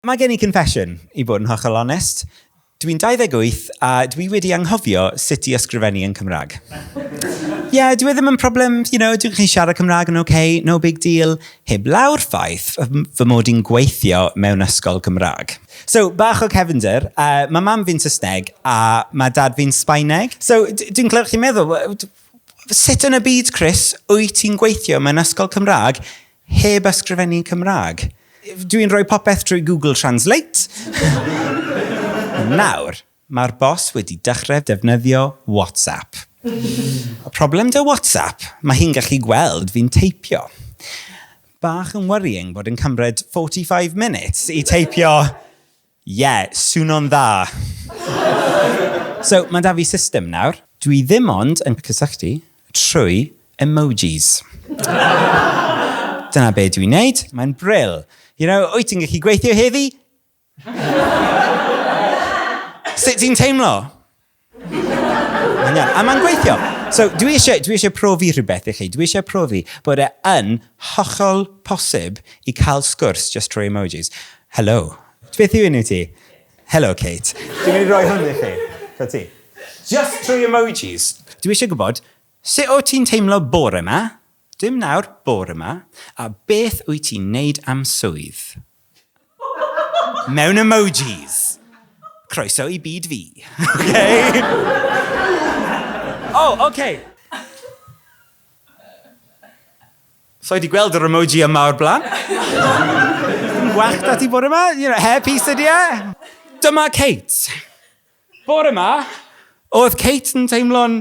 Mae gen i confession, i bod yn hollol onest. Dw i'n 28 a dw i wedi anghofio sut i ysgrifennu yn Cymraeg. Ie, dyw e ddim yn problem, you know, dw i'n siarad Cymraeg yn ok, no big deal, heblaw'r ffaith fy mod i'n gweithio mewn ysgol Gymraeg. So, bach o cefnder, yy, mae mam fi'n Saesneg a mae dad fi'n Sbaeneg. So, dw i'n clywed chi'n meddwl, sut yn y byd, Chris, wyt ti'n gweithio mewn ysgol Cymraeg Heb ysgrifennu'n Cymraeg. Dw i'n rhoi popeth trwy Google Translate. Nawr, mae'r boss wedi dechrau defnyddio WhatsApp. Problem 'da WhatsApp, mae hi'n gallu gweld fi'n teipio. Bach yn worrying bod e'n cymryd 45 minutes i teipio Ie, swno'n dda! So, mae 'da fi system nawr. Dwi ddim ond yn cysylltu trwy emojis. Dyna be dwi'n neud. Mae'n bril. You know, wyt ti'n gallu gweithio heddi? Sut ti'n teimlo? Mae'n A mae'n gweithio. So, dwi eisiau, dwi eisiau profi rhywbeth i chi. Dwi eisiau profi bod e yn hollol posib i cael sgwrs just trwy emojis. Hello. Beth yw enw ti? Hello, Kate. Dwi'n mynd i roi hwn i chi. So ti. Just trwy emojis. Dwi eisiau gwybod, sut o ti'n teimlo bore yma? Dim nawr, bore yma. A beth wyt ti'n neud am swydd? Mewn emojis. Croeso i byd fi. okay? oh, okay. So i di gweld yr emoji yma o'r blaen. Wach da ti bod yma, you know, hair piece ydi e. Dyma Kate. Bod yma, oedd Kate yn teimlo'n